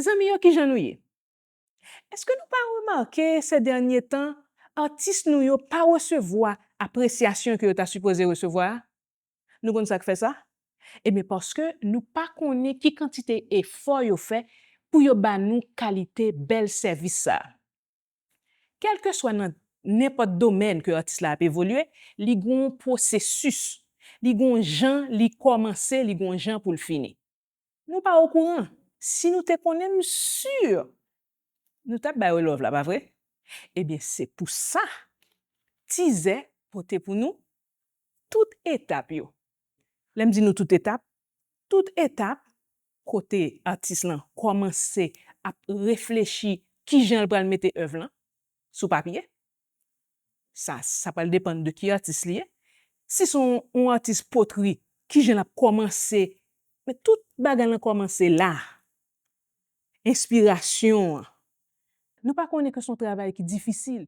Zanmi yo kijan nou ye? Eske nou pa remake sè dènye tan atis nou yo pa resevwa apresyasyon ke yo ta sipoze resevwa a? Nou konn sak fè sa? Ebyen paske nou pa konnen ki kantite efò yo fè pou yo ba nou kalite bèl sèvis sa. Kelke swa nan nenpòt domèn ke atis la ap evolye li gonw pwosesis, li gonw jan li kòmanse li gonw jan poul fini. Nou pa okouran, si nou te konnen m sur nou tap bay w love la pa vre? Ebyen se pou sa Tizè pote pou nou tout etap yo. Lè m di nou tout etap, tout etap kote atis lan kòmanse ap reflechi kijan l pral mete èv lan sou papye, sa sa pral depann de ki atis li ye si son yon atis potri kijan lap kòmanse men tout bagay lan kòmanse la enspirasyon an nou pa konnen ke son travay ki difisil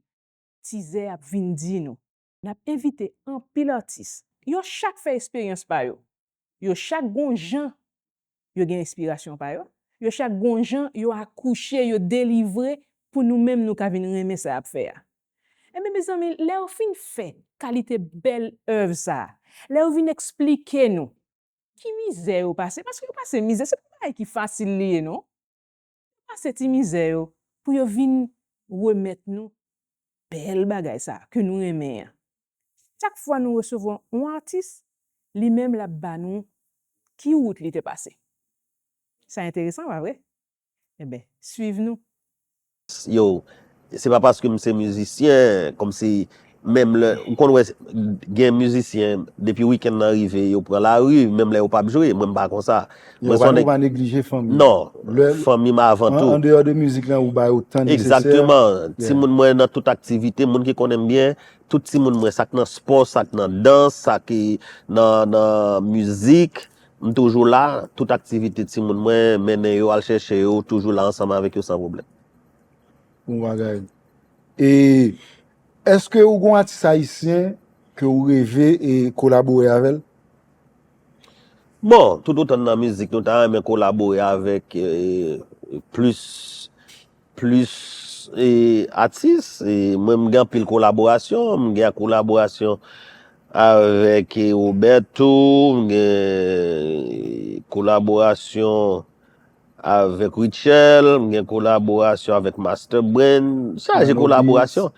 tizè ap vin di nou nap envite anpil atis yo chak fè esperyans pa yo Yo chak gon jan yo gen enspirasyon pa yo, yo chak gon jan yo akouche, yo delivre pou nou menm nou ka vin renmen sa y ap fè a. Enben mezanmi, lè yo fin fè kalite bèl èv sa a, lè yo vin eksplike nou ki mizè yo pase, paske yo pase mizè, se pa bagay ki fasil li ye non. Yo pase ti mizè yo pou yo vin remèt nou bèl bagay sa ke nou renmen an. Chak fwa nou resevwa on atis, li menm lap ba nou ki wout li te pase. Sa enteresan pa vre? Enben, swiv nou. Yo Se pa paske m se mizisyen, kòmsi menm lè, ou konn wè gen mizisyen depi wikenn nan rive yo pran lari menm lè yo pap jwe, mwen m pa konsa. Yo pa nou pa neglije fanmi. Non, fanmi m avan tou. An deyò de mizik lan ou ba yo tan nesesè. Egzakteman, timoun mwen nan tout aktivite, moun ki konnen m byen, tout timoun mwen sa k nan spò, sa k nan dans, sa ki nan mizik, m toujou la, tout aktivite timoun mwen, mennen yo al chèche yo, toujou la ansanm avèk yo san pwoblèm. Bon bagay. E eske ou gon atis ayisyen ke ou reve e kolabore avèl? Bon, tout otan nan mizik nou ta renmen kolabore avèk plis plis e atis. E mwen m gen anpil kolaborasyon. M gen kolaborasyon avèk e Roberto, m gen kolaborasyon Avèk Rutshelle, m gen kolaborasyon avèk Master Brain, chaje kolaborasyon.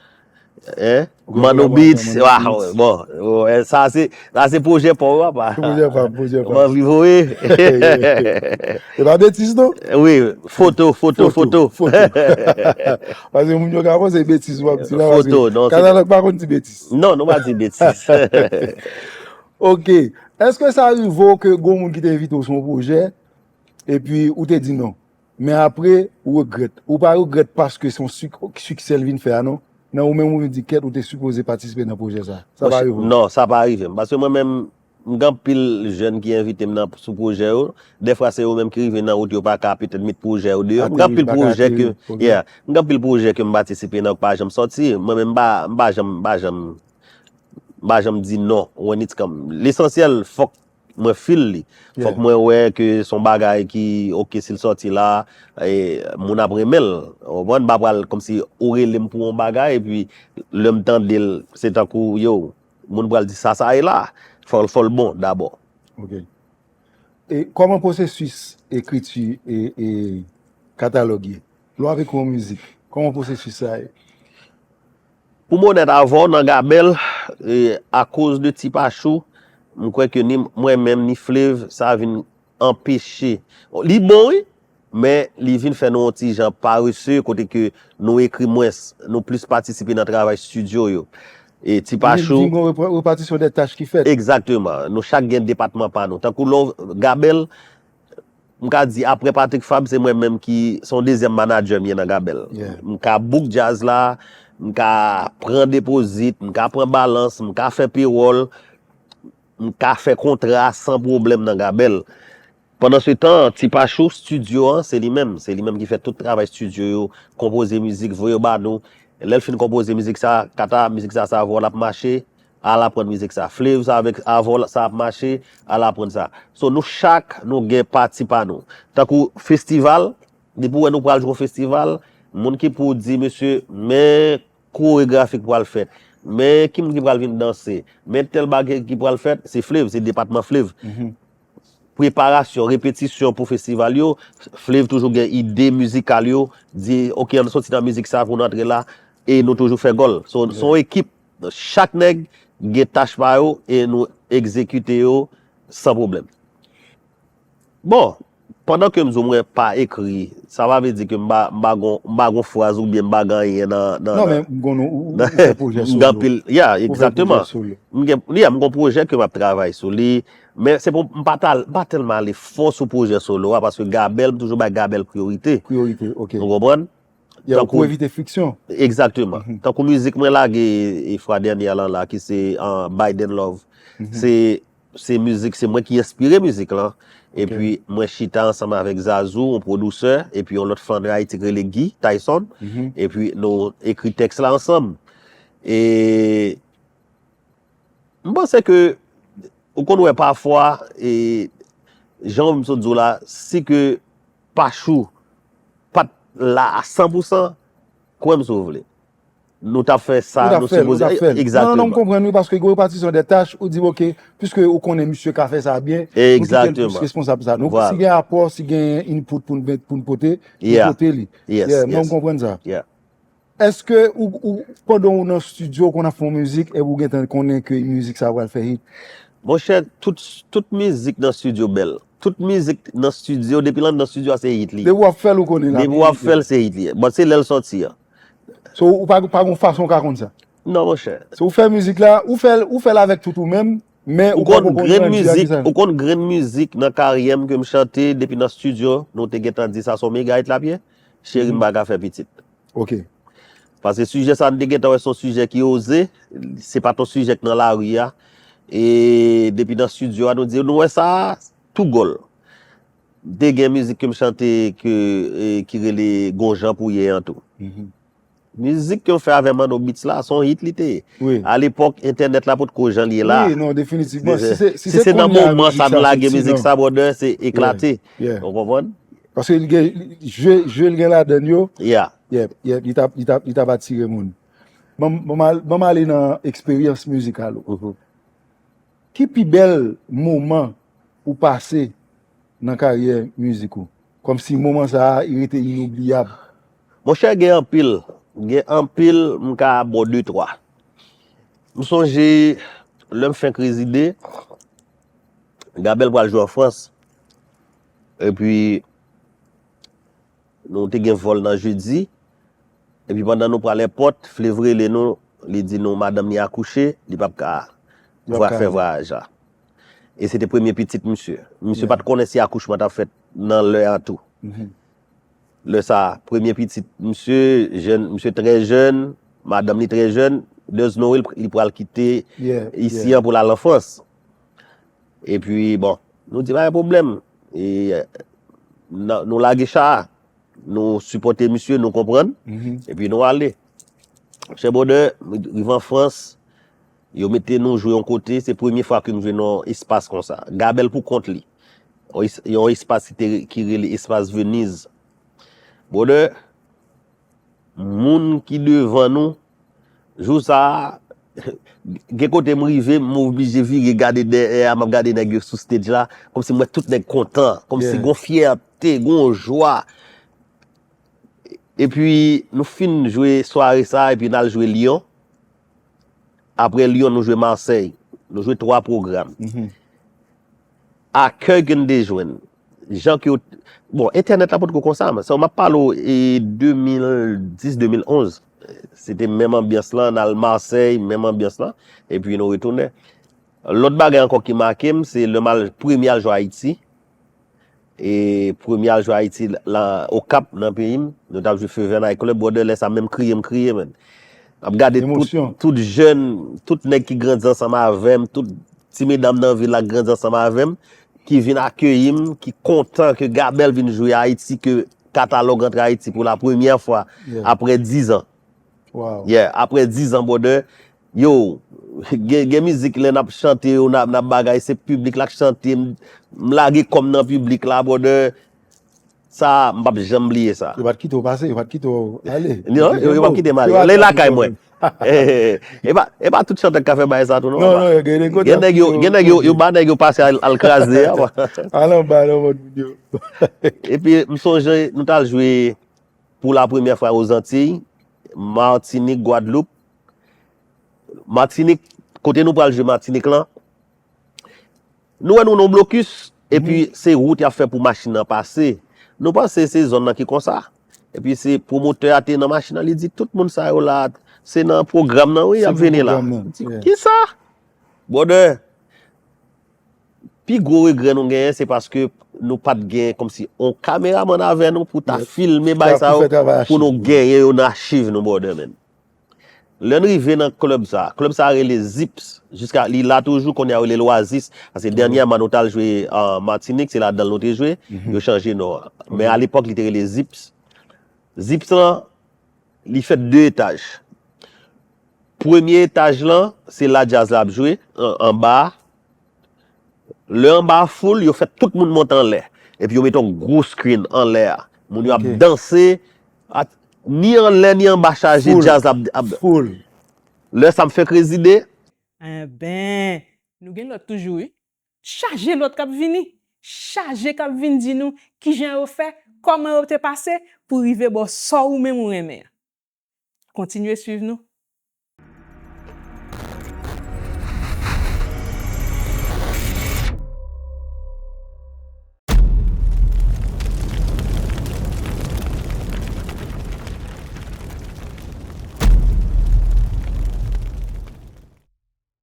Manno Beats, waw, bon, sa se pwojè pa w apa. Se pwojè pa m, pwojè pa m. Mwen viv wè. E pa betiz non. Wi, foto, foto, foto. Pase moun yo ka panse se betiz wap di la. Foto, non. Kanal pa konn di betiz. Non, nou pa di betiz. Ok, eske sa rive w ke gon moun ki te envite w sou yon pwojè, epi ou te di non men apre ou regrèt ou pa regrèt paske son siksè l vin fè a non nan ou menm ou vin di kèt ou te sipoze patisipe nan pwojè sa sa pa rive w non sa pa rive m paske mwen menm m gen anpil jèn ki envite m nan sou pwojè yo dèfwa se yo menm ki rive nan wout yo pa ka petèt met pwojè yo deyò m gen anpil pwojè ke yeah m gen anpil pwojè ke m patisipe nan yo ki pa janm sòti mwen menm m pa m pa janm m pa janm m pa janm di non when it's come lesansyèl fòk. mwen feel li fòk mwen wè ke son bagay ki ok sil sòti la moun ap renmenl ou konprann m pa pral kòmsi ou relem pou yon bagay epi lèm tandel se tankou yow moun pral di sa sa ye la fòl bon dabò ok e kòman pwosesis ekriti e katalòg ye lè w ap ekri yon mizik kòman pwosesis sa ye Pou m onèt avè w nan Gabèl, akoz de Ti Pachou, m kwè ke ni mwen menm ni Flev sa vin anpeche. Li bon wi, men li vin fè nou yon ti jan parese kote ke nou ekri mwens, nou plis patisipe nan travay stidyo yo. Ti Pachou. Ou vle di gen yon repatisyon dè tach ki fèt. Egzakteman. Nou chak gen depatman pa nou. Tankou lè w Gabèl. M ka di aprè Patrick Fabre se mwen menm ki se yon dezyèm manadjè m ye nan Gabèl. M ka book djaz la, m ka pran depozit, m ka pran balans, m ka fè pewòl, m ka fè kontra san pwoblèm nan Gabèl. Pandan se tan, Ti Pachou, stidyo an se li menm. Se li menm ki fè tout travay stidyo yo, konpoze mizik, voye yo ba nou. Lè l fin konpoze mizik sa, Kata, mizik sa sa a vwa l ap mache, Al aprann mizik sa. Flav sa avèk Avo la sa ap mache al aprann sa. So nou chak nou gen pati pa nou. Tankou festival, depi ou wè nou pral jwe yon festival, moun ki pou di mesye men koregrafi ki pral fèt, men ki moun ki pral vin danse, men tèl bagay ki pral fèt, se Flav, se depatman Flav. Preparasyon, repetisyon pou festival yo, Flav toujou gen ide mizikal yo, di ok an nou soti nan mizik sa pou nou antre la, e nou toujou fè gòl. So son ekip. Don chak nèg gen tach pa yo e nou egzekite yo san pwoblèm. Bon, pandan ke m di w mwen pa ekri, sa pa vle di ke m pa m pa gon m pa gon fraz oubyen m pa gen anyen nan nan Non men m konnen ou ou fè pwojè solo. M gen anpil, ya, egzakteman. M gen, ya, m gen yon pwojè ke m ap travay sou li, men se pou m pa ta m pa tèlman ale fon sou pwojè solo a paske Gabèl, m toujou bay Gabèl priyorite. Priyorite, ok. Ou konprann? Yo pou evite friksyon. Egzakteman. Tankou mizik mwen lage fwa dènyè lan la ki se Biden Love. Se se mizik se mwen ki enspire mizik lan. E pi mwen chita ansanm avèk Zazou, yon pwodousè, e pi yon lòt fann Ayiti ki rele Guy Tyson. E pi nou ekri tèks la ansanm. E. M panse ke ou konn wè pafwa e jan m sot di w la si ke Pachou pat la a 100 pou 100 kwè m si w vle nou tap fè sa nou sipoze a fè egzakteman. Non non m konprann wi paske gen repatisyon dè tach ou di ok piske ou konnen misye ka fè sa byen nou kite l plis responsab sa nou si gen apò si gen input pou n pote nou pote li yeah m konprann sa. Eske ou pandan ou nan studio ou konn ap fè yon mizik epi ou gentan konnen ke mizik sa pral fè hit? Monchè tout mizik nan studio bèl. Tout mizik nan studio depi l anndan studio a se hit li ye. Depi wap fèl ou konnen lap hit. Depi wap fèl se hit li ye. Bon se lèl sòti an. So ou pa gon fason ou ka konn sa? Non monchè. So ou fè mizik la, ou fèl avèk tout ou menm, men ou poko konn nan di a ki sa. Ou konn grenn mizik nan karyèm kem chante depi nan studio nou te gentan di sa son mega hit lap ye? Cheri m paka fè pitit. Ok. Pase sijè sa nou te gentan wè se yon sijè ki oze, se pat yon sijè ki nan lari a, e depi nan studio a nou di nou wè sa a, tou gòl. M te gen mizik ke m chante ke ki rele Gon jan pou ye an tou. Mizik ke m fè avè Manno Beats la, se yon hit li te ye. Wi. A lepòk entènèt la potko jan l ye la. Wi, non definitivman. Si se kounye a mizik sa fè ti nan. Si se nan moman sa nou lage mizik sa brother se eklate. Yeah, yeah. Ou konprann? Paske li gen je je li gen ladann yo. Yeah. Yeah, yeah, li tap li tap li tap atire moun. Banm banm al banm ale nan eksperyans mizikal ou. Mhm. Ki pi bèl moman ou pase nan karyè mizik ou? Kòmsi moman sa a li rete inoubliyab? Monchè gen anpil, gen anpil m ka bo de twa. M sonje lè m fenk rezide, Gabèl pral jwe an Frans. Epi nou te gen vòl nan jedi, epi pandan nou pral èpòt, Flev rele nou, li di nou madanm li akouche, li pap ka fè vwayaj la. E se te premye pitit misye. Misye pat konnen si akouchman tap fèt nan lè a tou. Lè sa, premye pitit misye, misye trè jèn, madanm li trè jèn, there's no way li pral kite isi an pou lal an Frans. E pi bon, nou di pa gen pwoblèm. E nou lage cha a. Nou sipòte misye, nou konprann. E pi nou ale. Chè bwòdè, rive an Frans, yo mete nou jwe yon kote, se premye fwa ke m jwe nan espas kon sa. Gabèl pou kont li. Yon espas ki rele espas Veniz. Bwòdè, Moun ki devan nou, jou sa a, gen kote m rive, m oblije vire gade dèyè a, m ap gade nèg yo sou stage la, kòmsi m wè tout nèg kontan, kòmsi gon fyète, gon jwa. Epi nou fin jwe sware sa a, epi n al jwe Lyon, Apre Lyon nou jwe Marsèy. Nou jwe 3 pwogram. Akèy ke n te jwenn. Jan ke yo... Bon, entènèt la potko konsa. Mwen ap pale ou 2010-2011. Se te menm anbyans lan. N al Marsèy, menm anbyans lan. E pi nou retounen. Lòt bagay ankò ki make m, se lè m al premye al jwe Ayiti. E premye al jwe Ayiti la Okap nan peyi m. Nou tap jwe Fever Night Club. Bwòdè lè sa menm kriye m kriye menn. Map gade tout jèn, tout nèg ki grandi ansanm avè m, tout ti medam nan vil la ki grandi ansanm avè m, ki vin akeyi m, ki kontan ke Gabèl vin jwe Ayiti, ke Katalòg antre Ayiti pou la premyè fwa apre dizan. Yeah aprè 10 ans brother Yow gen mizik lè nap chante yo nap bagay se piblik la k chante m lage kòm nan piblik la brother sa m pap janm bliye sa. Yo pat kite w pase yo pat kite w ale. Non yo pat kite m ale ale lakay mwen. E pa tout chantè k ka fè bagay sa tou non. Non non gen kote yo kite w. Gen nèg yo ba nèg yo pase al kraze. Al anba nan vant moun yo. Epi m sonje nou tal jwe. Pou la premyè fwa o Zantiy, Matinik, Gwadloup, Matinik, kote nou pral jwe Matinik lan, nou wè nou nan yon blokis, epi se wout y ap fè pou machin nan pase, nou panse se zòn nan ki konsa, epi se pwomotè a te nan machin nan li di tout moun sa yo la, se nan pwogram nan wi y ap vini la, kisa? Brother! Pi gwo regrè nou genyen se paske nou pat gen komsi on kameraman avè nou pou ta filme bay sa yo pou nou genyen yo nan achiv nou brother men. Lè n rive nan club sa, club sa rele Zips, jiska li la toujou kounye a yo rele l Oasis, paske dènyèman nou t al jwe Martinique se ladan l nou te jwe, yo chanje non an. Men a lepòk li te rele Zips. Zips lan Li fèt 2 etaj. Premye etaj lan, se la djaz la ap jwe, anba a. Lè anba a full, yo fè tout moun monte anlè. Epi yo mete yon gwo screen anlè a. Moun yo ap danse. Ni anlè ni anba chaje, djaz la ap. Full. Lè sa m fèk rezide. Enben, nou gen lòt toujou wi. Chaje lòt k ap vini. Chaje k ap vin di nou kijan yo fè, kòman yo te pase pou rive ba w sa ou menm ou renmen an. Kontinye swiv nou.